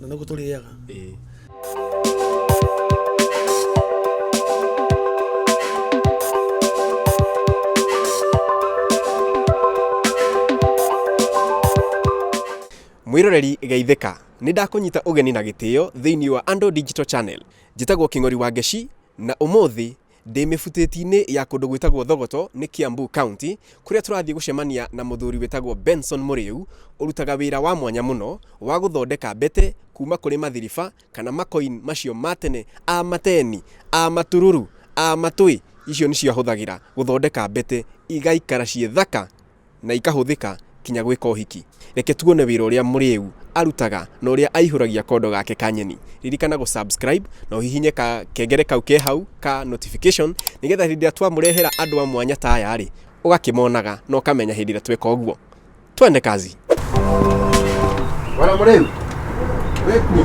na nĩguo tũrĩaga Ĩĩ. mwiroreri geithĩka nĩ ndakũnyita ũgeni na gĩtĩo thĩinĩ wa andũ digital channel njĩtagwo kĩng'ori wa ngeci na ũmũthĩ Ndĩ mĩbutĩti-inĩ ya kũndũ gwĩtagwo Thogoto nĩ Kiambu County, kũrĩa tũrathiĩ gũcemania na mũthuri wĩtagwo Benson Mũrĩu, ũrutaga wĩra wa mwanya mũno wa gũthondeka mbete kuuma kũrĩ mathiriba kana makoin macio ma tene a mateni, a matururu, a matũi, icio nĩcio ahũthagĩra gũthondeka mbete igaikara ciĩ thaka. na ikahũthĩka kinya gwĩka ũhiki. Reke tuone wĩra ũrĩa mũrĩu arutaga na ũrĩa aihũragia kondo gake ka nyeni. Ririkana gũ subscribe na ũhihinye ka kengere kau ke hau ka notification nĩgetha hĩndĩ ĩrĩa twamũrehera andũ a mwanya ta aya rĩ, ũgakĩmonaga na ũkamenya hĩndĩ ĩrĩa tweka ũguo. Twende kazi. Bwana Mreu, wekuo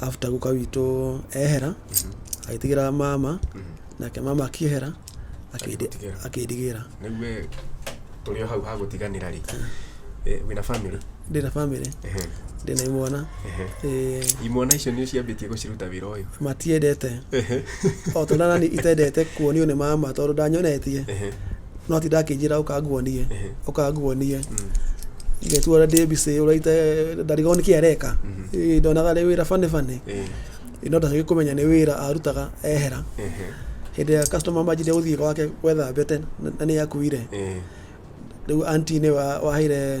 after guka witũ ehera agĩtigĩra mama nake mama akĩehera akĩndi- Agĩgũtigĩra. akĩndigĩra rä u we tå rä o hau hagåtiganä ra rä wä na bamä ndĩ na bamĩrĩ ndĩ na imwana Eh, imwana icio nä ciambä tie gå ciruta wä ra å yå matiendete o tondå nani itendete kuonio nä mama tondå ndanyonetie no ti ndakĩnjĩra ũkanguonie ũkanguonie ngetu ũrĩa ndĩ mbicĩ ũraita ndarigwo nĩ kĩ areka Ĩ, ndonaga rĩ wĩra bane bane Ĩ, no ndacagĩ kũmenya nĩ wĩra arutaga ehera hĩndĩ ya customer manjire gũthiĩ gwake gwetha mbete na nĩ akuire rĩu anti nĩ wa- waheire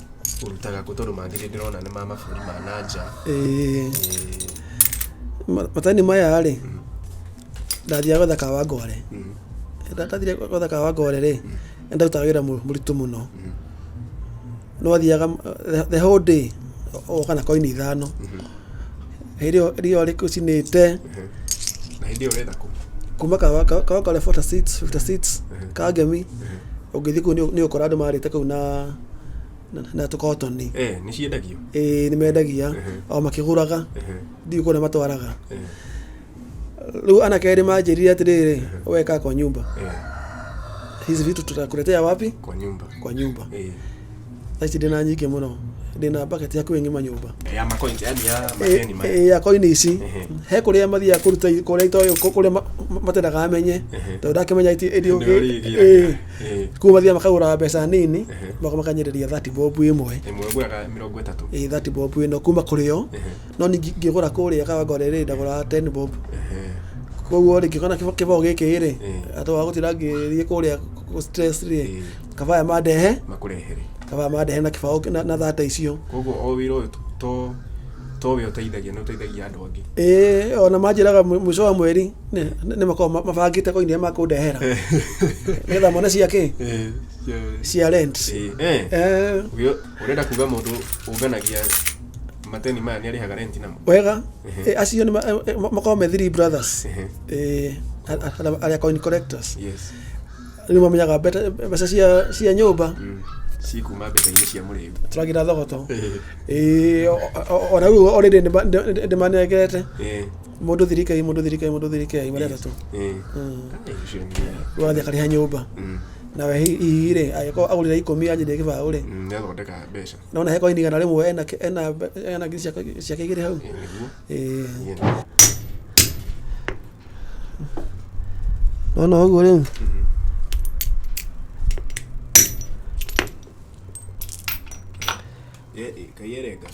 ũrutaga kũ tondũ mangĩ ndĩrona nĩ ma mabũrũri ma na nja Eh, ma- matani maya rĩ ndathiaga gwetha kawa wa ngware ndathire gwetha kawa wa ngware rĩ nĩ ndarutaga wĩra mũ- mũritũ mũno no athiaga eh, the whole day oka na koini ithano hĩndĩ ĩyo rĩo rĩ ũcinĩte na hĩndĩ ĩyo ũretha kũ kuma kawa kawa kawa kore 46 56 kangemi ũngĩthiĩ kũu nĩ- nĩ ũkora andũ marĩte kũu na na- na tũkotoni eh, nĩ ciendagio ĩĩ nĩ mendagia Ehe. o makĩgũraga Ehe, ndiũ kũrĩa matwaraga eh, rĩu ana kerĩ manjĩrire atĩrĩrĩ weka kwa nyumba eh, hizi vitu tutakuletea wapi kwa nyumba kwa nyumba eh, thaci ndĩna nyingĩ mũno ndĩna baketi hakuhĩ ng'ima nyũmba ya makoini yani ya makeni ma Ĩ- ĩ, ya koini ici Ehe. he kũrĩa mathiaga kũruta kũrĩa itoĩ kũrĩa ma- ma- matendaga amenye Ehe. tondũ ndakĩmenya iti- Ndio ĩthiũngĩ- rĩgĩraga. Ĩ. Eh, kuo mathiaga makagũraga mbeca nini Ehe. magoka makanyendĩria 30 bob ĩmwe ĩmwe ngũraga mĩrongo ĩtatũ ĩ 30 bob ĩno kuma kũrĩ yo Ehe. no ningĩ ngĩgũra kũrĩa kawango rĩrĩ ndagũraga 10 bob Ehe. koguo rĩ ngĩkona kĩba- kĩbao gĩkĩ rĩ Eh. atĩ wa gũtira ngĩthiĩ kũrĩa kũ- stress rĩ Eh. kabaya mandehe makũrehere kabaya mandehe na kĩbao kĩ- na- na thata icio koguo o wĩra ũyũ to to we ũteithagia nĩ ũteithagia andũ angĩ ĩĩ ona manjĩraga mwi- mũico wa mweri nĩ- nĩ makoragwo ma- mabangĩte koinĩ makũndehera nĩgetha mone cia kĩ Eh, cia- cia rent eh, eh. Eh, Ũgĩ- ũrenda kuga mũndũ ũnganagia mateni maya nĩ arĩhaga renti namo wega Mhm. Eh, acio nĩ ma- eh, eh, makoragwo me three brothers Ehe. Eh, a- a- arĩa coin collectors yes rĩu mamenyaga mbete- mbeca cia- cia nyũmba cikuma mbeca-inĩ cia mũrĩu tũragira thogoto Ĩĩ, o- o- ona rĩu orĩrĩ ndĩmanengete Eh, mũndũ thirikei mũndũ thirikei mũndũ thirikei marĩa atatũ eh. Mm. Ai, ũcio nĩ- wathiĩ akarĩha nyũmba Mm, nawe hihi rĩ agĩkorwo agũrĩra ikũmi yanjĩria gĩbaũ rĩ mm, nĩathondeka mbeca nona hekorwo inigana rĩmwe ena- ena ena ngiri ciake ciake igĩrĩ hau Eh, nĩguo Eh. No no ũguo rĩu. Kaiyerenga.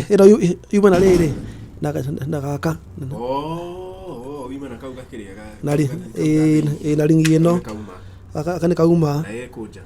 Ĩno yuma na rĩrĩ na gaka. Oh, yuma na kau gakĩrĩa. Na ĩ na ringi ĩno. Gaka nĩ kauma. Na ĩkũnja.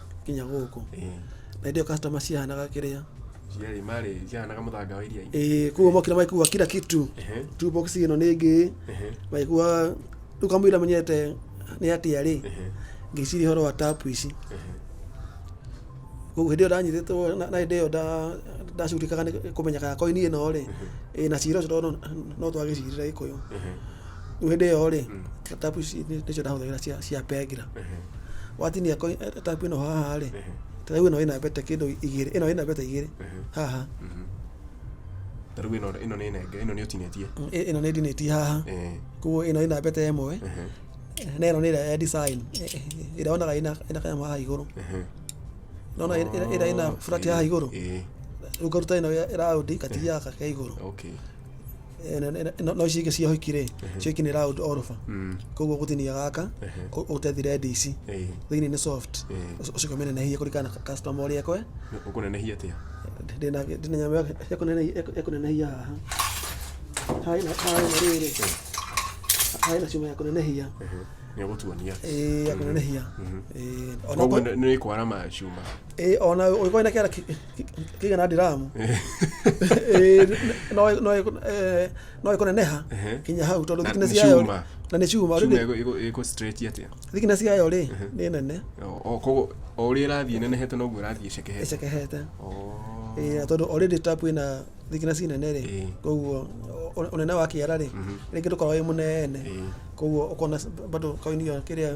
nginya gũkũ Eh, na ndio customer cihanaga kĩrĩa ciarĩ marĩ ciahanaga mũthanga wa iria eh kuo mokira maikuwa kila kitu Ehe, tu box ino nĩ ngĩ ehe, maikuwa rĩu kamũira menyete nĩ atia rĩ ehe, ngĩciria horo wa tapu ici ehe. koguo hĩndĩ ĩyo ndanyitĩtwo na na hĩndĩ ĩyo nda- ndacurikaga nĩ kũmenyeka ya koini ĩno rĩ ĩ na cira ũcio tondũ no twagĩcirire gĩkũyũ Ehe. rĩu hĩndĩ ĩyo rĩ tapu ici nĩ- nĩcio ndahũthagĩra cia cia pengira watinia ko- eh, tapu ĩno haha rĩ tarĩu ĩno ĩna mbete kĩndũ igĩrĩ ĩno ĩna mbete igĩrĩ haha ta rĩu ĩno ĩno nĩ nenge ĩno nĩ ũtinĩtie Mm, ĩ- ĩno nĩ ndinĩtie haha Eh, koguo ĩno ĩna mbete ĩmwe ehe, na ĩno nĩ ĩrĩa ya design eh, eh, ĩrĩa wonaga ĩna ĩna kanyamũ haha igũrũ ehe. nona ĩrĩa ĩna burati haha igũrũ Eh, rĩu ngaruta ĩno ya- ĩraundi ngatigia gaka ke igũrũ okay Eh, na- na- na- no ici ingĩ cia hiki rĩ cio iki nĩ round oroba koguo gũtinia gaka ũ- ũtethire ndici Eh, thĩinĩ nĩ soft Eh. Ũc- ũcoke ũmĩnenehie kũringana na customer ũrĩa ekwe ũkũnenehia atĩa ndĩna ndĩna nyamũ ya- ya kũnene- ya kũ- ya kũnenehia haha haha ĩna- haha ĩna rĩrĩ haha ĩna cuma ya kũnenehia nĩ ũgũtuonia Eh, ya kũnenehia Eh, ona koguo ko- nĩ kwara macuma Eh, ona ũgĩkorwo na kĩara kigä na ndiramu no ikuneneha kinya hau tondu thickness yayo na ni cuma thickness yayo ri ni nene koguo o uri irathie nenehete noguo irathie cekehete cekehete tondu already tap ina thickness nene ri koguo unene wa kiara ri ringi ndukorwo wi munene koguo ukona bado kaini kiria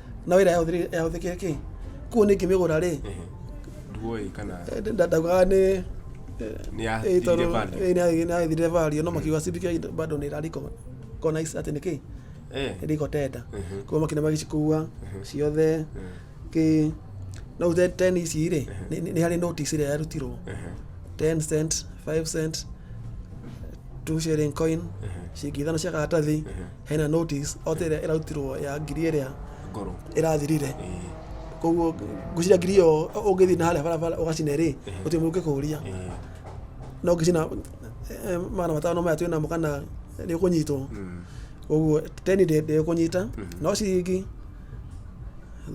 na wira yahũthĩkire kĩ kũu nĩ ngĩmĩgũra rĩ nduoĩ kana ndaugaga nĩ nĩ ya Eh, tondũ- thirĩ bado. eh, nĩ- nĩ athire value no makiuga cindike bado nĩ rariko kona ici atĩ nĩkĩ Eh, riko tenda Mhm. kwa makina magĩcikua ciothe kĩ no uze ten ici rĩ nĩ- nĩ- nĩ harĩ notice ĩrĩa yarutirwo ehe, 10 cent 5 cent 2 shilling coin ciringi ithano cia karatathi hena notice ote ĩrĩa ĩrarutirwo ya ngiri ĩrĩa ngoro ĩrathirire eh, koguo ngwĩciria ngiri ĩyo ũngĩthiĩ na harĩa barabara ũgacina rĩ gũtirĩ mũndũ ũngĩkũria eh, no ngĩcina eh, magana matano maya twĩ namo kana nĩ ũkũnyitwo mm, koguo teni ndĩ- ndĩkũnyita no ciringi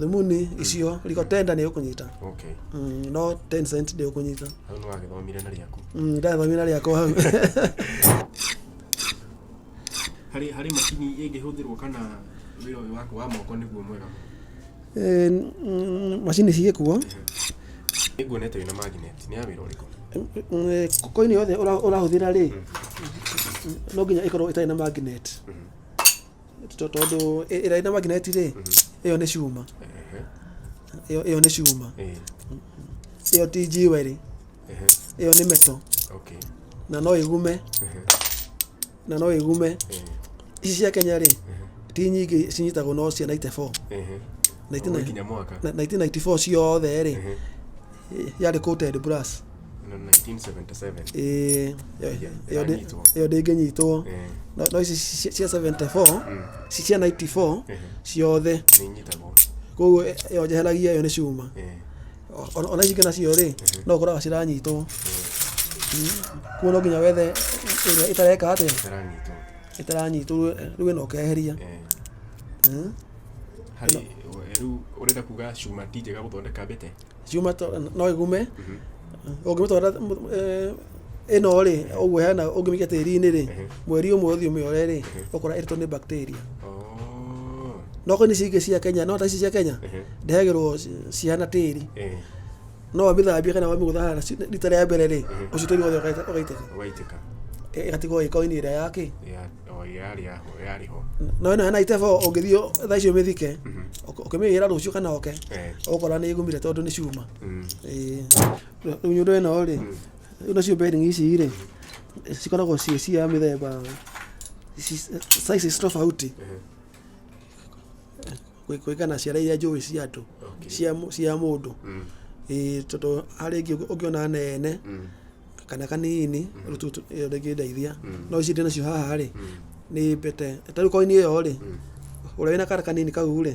thumuni icio riko tenda nĩ ũkũnyita okay Mm, no 10 cent ndĩ ũkũnyita hau nĩ wagĩthomire na rĩaku ndathomire rĩakwa hau harĩ harĩ macini ĩngĩhũthĩrwo kana wĩra ũyũ waku wa moko nĩguo mwega mũno? Eh, n- n- macini cigĩkuo Nĩnguonete wĩna magnet, nĩ ya wĩra ũrĩkũ? koini yothe ũra- ũrahũthĩra rĩ no nginya ĩkorwo ĩtarĩ na magnet To- tondũ ĩ- ĩrĩa ĩna magnet rĩ ĩyo nĩ cuma Ehe, ĩyo ĩyo nĩ cuma eh. ĩyo ti njiwe rĩ Ehe, ĩyo nĩ meto okay. na no ĩgume Ehe, na no ĩgume ehe, ici cia kenya rĩ ti nyingĩ cinyitagwo no cia 94 ehe. Na itina- Ũguo ikinya mwaka na- 1994 ciothe rĩ Ehe, yarĩ coated brass na 1977 Ĩĩ, ĩyo- Yeah, ĩyo ndĩ- iranyitwo. ĩyo ndĩngĩnyitwo Ehe, No- no ici ci- cia 74 mm, ci- cia 94 ehe, ciothe nĩinyitagwo koguo ĩyo njeheragia ĩyo nĩ cuma Ehe, O- ona ici ingĩ nacio rĩ no ũkoraga ciranyitwo kuo no nginya wethe ĩrĩa ĩtareka atĩa Itaranyitwo. ĩtaranyitwo rĩu- rĩu ĩno ũkeheria Eh, Mm. harĩ eh, rĩu ũrenda kuga cuma ti njega gũthondeka mbĩte cuma to- no ĩgume ũngĩmĩtwara ĩno rĩ ũguo hena ũngĩmĩikia tĩri-inĩ rĩ mweri ũmwe ũthiĩ ũmĩore rĩ ũkora ĩrĩtwo nĩ bacteria Oh. no kwani ici ingĩ cia kenya no ta ici cia kenya ndehagĩrwo ci- cihana tĩri Eh. no wamĩthambia kana wamĩgũtha na ci- rita rĩa mbere rĩ ũcio tĩri wothe ũgaita- ũgaitĩka Waitĩka. Ĩ- ĩgatigwo ĩkoini ĩrĩa yakĩ Ya, oh, yarĩ yaho, yarĩ ho. no ĩno hena itebo ũngĩthiĩ thaa icio ũmĩthike ũk- ũkĩmĩgĩra rũciũ kana oke Eh. ũkora nĩ ĩgumire tondũ nĩ cuma Mm. Ĩĩ. Ũnyũrũ ĩno rĩ, rĩu nacio bearing ici rĩ, cikoragwo ciĩ cia mĩthemba ci- sizes tofauti Kũ- kũringana ciara iria njũĩ cia andũ cia mũ- cia mũndũ Ĩĩ, tondũ harĩ ĩngĩ ũngĩ- ũngĩona nene kana kanini rĩu tu- tu- ĩyo ndĩngĩndeithia no ici ndĩ nacio haha rĩ nĩ mbete tarĩu koini ĩyo rĩ ũrĩa wĩna kara kanini kau rĩ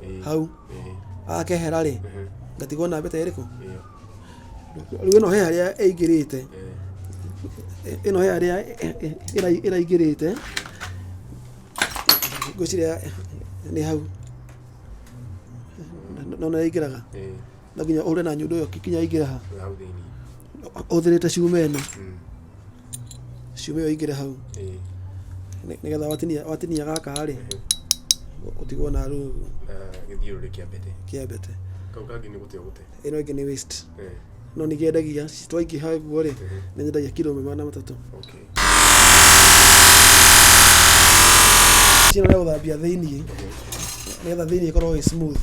Ĩĩ, hau ĩĩ, akehera rĩ ehe, ngatigwo na mbete ĩrĩkũ ĩyo, rĩu ĩno he harĩa ĩingĩrĩte eh, ĩno he harĩa ĩ- ĩ- ĩra- ĩraingĩrĩte ngwĩciria nĩ hau nona ĩingĩraga ĩĩ, no nginya ũhũre na nyundo ĩyo kinya ĩingĩre ha Ĩyo hau thĩinĩ ũthĩrĩte cuma ĩno Mm. cuma ĩyo ĩingĩre hau Ĩĩ. Nĩ- nĩgetha watinia watinia gaka rĩ ũtigwo na rũu na gĩthiũrũrĩ kĩa mbete kĩa mbete kau kangĩ nĩ gũte gũte ĩno ĩngĩ nĩ waste Ĩĩ. no nĩ kĩendagia twaingĩha guo rĩ nĩ nyendagia kiro ĩmwe magana matatũ okay Chino rĩa gũthambia thĩinĩ nĩgetha thĩinĩ ĩkorwo ĩ smooth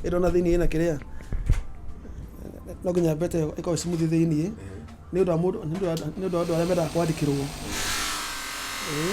ĩno na thĩinĩ ĩna kĩrĩa no nginya mbete ĩyo ĩkorwo ĩ smooth thĩinĩ nĩ ũndũ wa mũndũ nĩ ũndũ wa nĩ ũndũ wa andũ arĩa mendaga kwandĩkĩrwo Ĩĩ.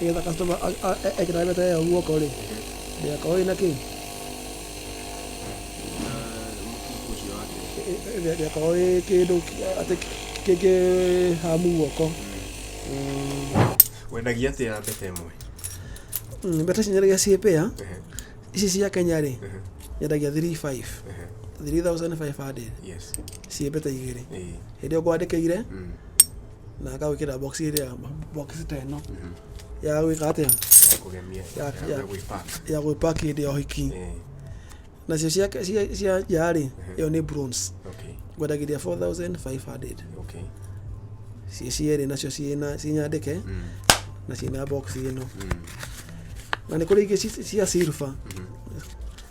nĩgetha customer a- a- e- ekĩra mbeca ĩyo guoko rĩ ndĩgakorwo ĩna kĩ mũkiku ũcio wake Ĩ- ĩ- ĩ- ndĩgakorwo ĩ kĩndũ kĩ- atĩ kĩ- kĩ hamu guoko Mm, wendagia atĩa mbete ĩmwe mm, mbeca ici nyendagia ciĩ pea Ehe, ici cia kenya rĩ ehe, nyendagia 35 ehe. 3500 yes ciĩmbĩte igĩrĩ Ĩĩ. hĩndĩ ĩyo ngwandĩkĩire Mm. na ngagwĩkĩra box ĩrĩa box ta ĩno ya gwĩka atĩa Ya kũgemia. Ya- Ya- ya- ya gwĩpark. ya gwĩpack hĩndĩ ya ũhiki Ĩĩ. nacio cia cia- cia yarĩ ĩyo nĩ bronze Okay. ngwendagĩria 4500 Okay. ciĩ cierĩ nacio ciĩna cinyandĩke Mm. na ciĩna box ĩno Mm. na nĩ kũrĩ ingĩ ci- cia silver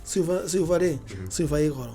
silver silver rĩ silver ĩ goro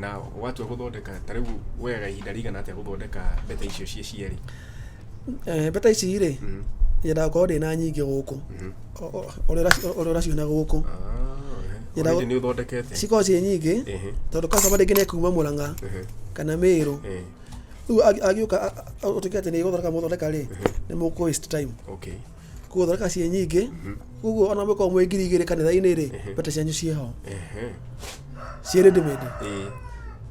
na watua gũthondeka ta rĩu woyaga ihinda rĩigana atĩa gũthondeka mbeta icio ciĩ cierĩ Eh, mbeta ici rĩ Mhm. yendaga gũkorwo ndĩ na nyingĩ gũkũ Mhm. O- o- ũrĩa ũraci- ũrĩa ũraciona gũkũ Ah, ehe. Ira- Already nĩ ũthondekete cikorwo ciĩ nyingĩ Ehe, tondũ customer rĩngĩ nĩ kuma mũrang'a ehe, kana mĩrũ ehe. rĩu agi- agĩũka a- a- ũtuĩke atĩ nĩ gũthondeka mũthondeka rĩ nĩ mũkũ waste time okay koguo thondeka ciĩ nyingĩ koguo ona mũkorwo mwĩ ngiri igĩrĩ kanitha-inĩ rĩ mbete cianyu ciĩ ho Ehe. ciĩ ready made Ĩĩ.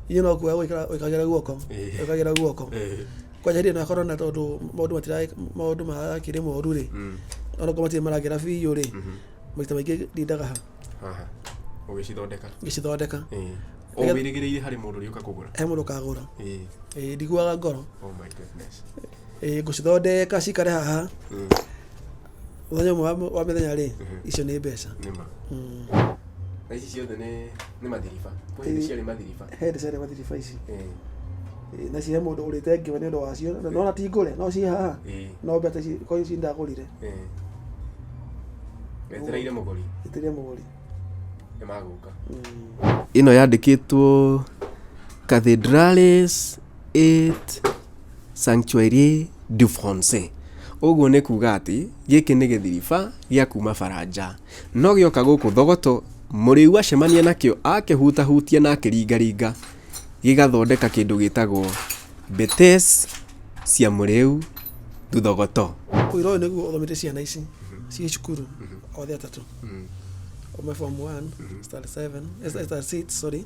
inyuĩ no kuoya gwĩkĩra- gwĩkagĩra guoko Eh. gwĩkagĩra guoko Ĩĩ. kwanja hĩndĩ ĩyo no akorwo na tondũ maũndũ matira- maũndũ marakĩrĩ moru rĩ Mm. ona korwo matirĩ maragĩra biũ rĩ maita maingĩ ndindaga ha Haha. ũgĩcithondeka ngĩcithondeka Ĩĩ. o Nĩgetha- wĩrĩgĩrĩire harĩ mũndũ ũrĩũka kũgũra he mũndũ kagũra Ĩĩ. Ĩĩ, ndiguaga ngoro Oh my goodness. Ĩĩ, ngũcithondeka cikare haha mũthenya ũmwe wa- wa mĩthenya rĩ icio nĩ mbeca nĩma Mm. na ici ciothe nĩ nĩ mathiriba kwa hĩndĩ ciarĩ mathiriba he ndecere mathiriba ici Eh, Ĩĩ, na cihe mũndũ ũrĩte ngĩwe nĩ ũndũ wacio na nona ti ngũre no ciĩ haha eh, no mbeca ici kwa ici ndagũrire eh. wetereire mũgũri ĩtĩria mũgũri nĩ magũka Mm. ĩno yandĩkĩtwo cathedrales et sanctuaire du français ũguo nĩ kuga atĩ gĩkĩ nĩ gĩthiriba gĩa kuma baranja no gĩoka gũkũ thogoto mũrĩu acemania nakĩo akĩhutahutia na akĩringaringa gĩgathondeka kĩndũ gĩtagwo betes cia mũrĩu thuthogoto Ũira ũyũ nĩguo ũthomete ciana ici ciĩ cukuru othe atatũ. Ũme form 1, standard 7, eh, standard 6, sorry.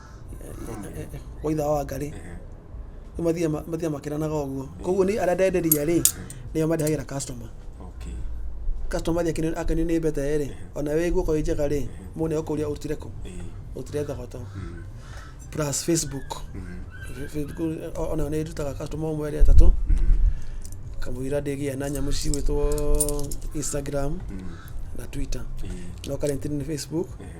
eh, eh, wa itha wa wangarĩ Ehe. rĩu mathiaga ma- mathiaga makĩranaga ũguo koguo nĩ arĩa ndenderia rĩ nĩo mandehagĩra customer Okay. customer athiĩ akĩnĩ- akĩnĩ nĩ mbete rĩ ona wĩ guoko ĩ njega rĩ mũndũ nĩ agũkũria ũrutire kũ Eh. ũrutire thogoto Mm. plus facebook Mhm. Fe- facebook o- ona nĩ ndutaga customer ũmwe erĩ atatũ Mhm. kamũira ndĩgĩa na nyamũ cigwĩtwo instagram Mm. na twitter Eh. no karentini nĩ facebook Ehe.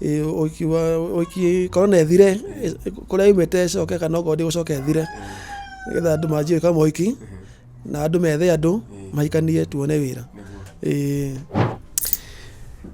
Ĩĩ ũkiuga ũki korwo nĩ ĩthire kũrĩa yumĩte ĩcoke kana okorwo ndĩgũcoka ĩthire nĩgetha andũ manjie gwĩka mohiki na andũ methe andũ mahikanie tuone wĩra ĩĩ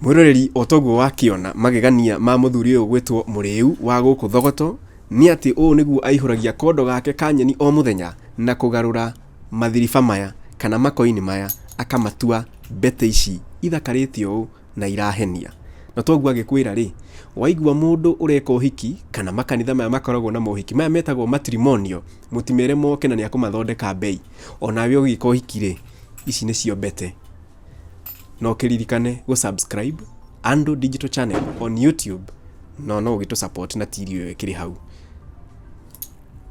Mwĩroreri o toguo wakĩona magegania ma mũthuri ũyũ gwĩtwo mũrĩu wa gũkũ Thogoto nĩ atĩ ũũ nĩguo aihũragia kondo gake ka nyeni o mũthenya na kũgarũra mathiriba maya kana makoini maya akamatua mbete ici ithakarĩte ũũ. na irahenia. Na toguo agĩkwĩra rĩ, waigua mũndũ ũreka ũhiki kana makanitha maya makoragwo na mohiki maya metagwo matrimonio, mũtimere moke na nĩ akũmathondeka mbei. Onawe ũgĩka ũhiki rĩ, ici nĩcio mbete. Na ũkĩririkane gũ subscribe Andũ Digital Channel on YouTube no no ũgĩtũ support na tiri ũyũ ĩkĩrĩ hau.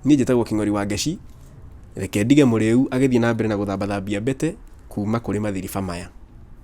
Niĩ njĩtagwo King'ori wa Ngeci, reke ndige mũrĩu agĩthiĩ na mbere na gũthambathambia mbete kuma kũrĩ mathiriba maya.